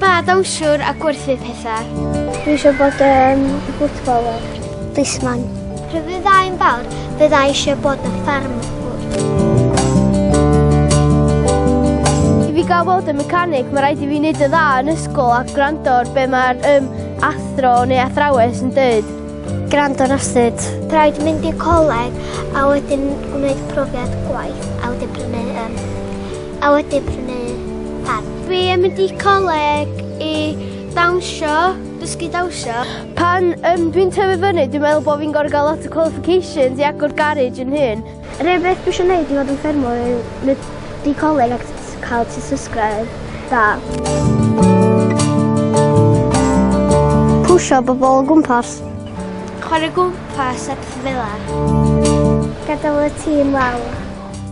Pa ddawnswr a gwerthu pethau? Dwi eisiau bod yn footballer. Disman. Pryd fyddai'n fawr, byddai eisiau bod yn ffarmwr. I fi gael bod yn mecanig, mae rhaid i fi wneud y dda yn ysgol a gwrando ar be mae'r um, athro neu athrawes yn dweud. Gwrando ar asid. Rhaid mynd i'r coleg a wedyn gwneud profiad gwaith a wedyn prynu um, A wedi prynu pad. Dwi yn mynd i coleg i dawnsio, dysgu dawnsio. Pan um, dwi'n tyfu fyny, dwi'n meddwl bod fi'n gorfod gael lot o qualifications i agor garage yn hyn. Rhywbeth beth dwi eisiau gwneud i fod yn ffermwr yw mynd i coleg ac cael ti subscribe da. Pwysio bobl o gwmpas. Chwarae gwmpas a pethau fel la. Gadael y tîm lawr.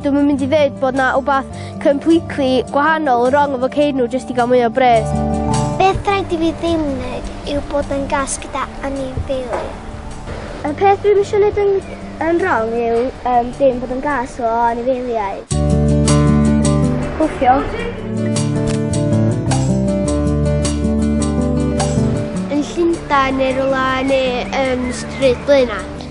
Dwi'm yn mynd i ddeud bod 'na wbath completely gwahanol wrong efo ceir nhw jyst i gael mwy o bres. Beth rhaid i fi ddim wneud yw bod yn gas gyda anifeiliaid. Y peth dwi'n eisiau gwneud yn, yn wrong yw um, dim bod yn gas o anifeiliaid. Gwffio. Yn Llundain neu rhywle neu yn stryd Blaenau.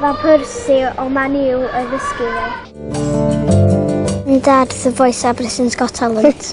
Mae Percy o Man U yn ddysgu fi. Yn dad The Voice a Britain's Got Talent.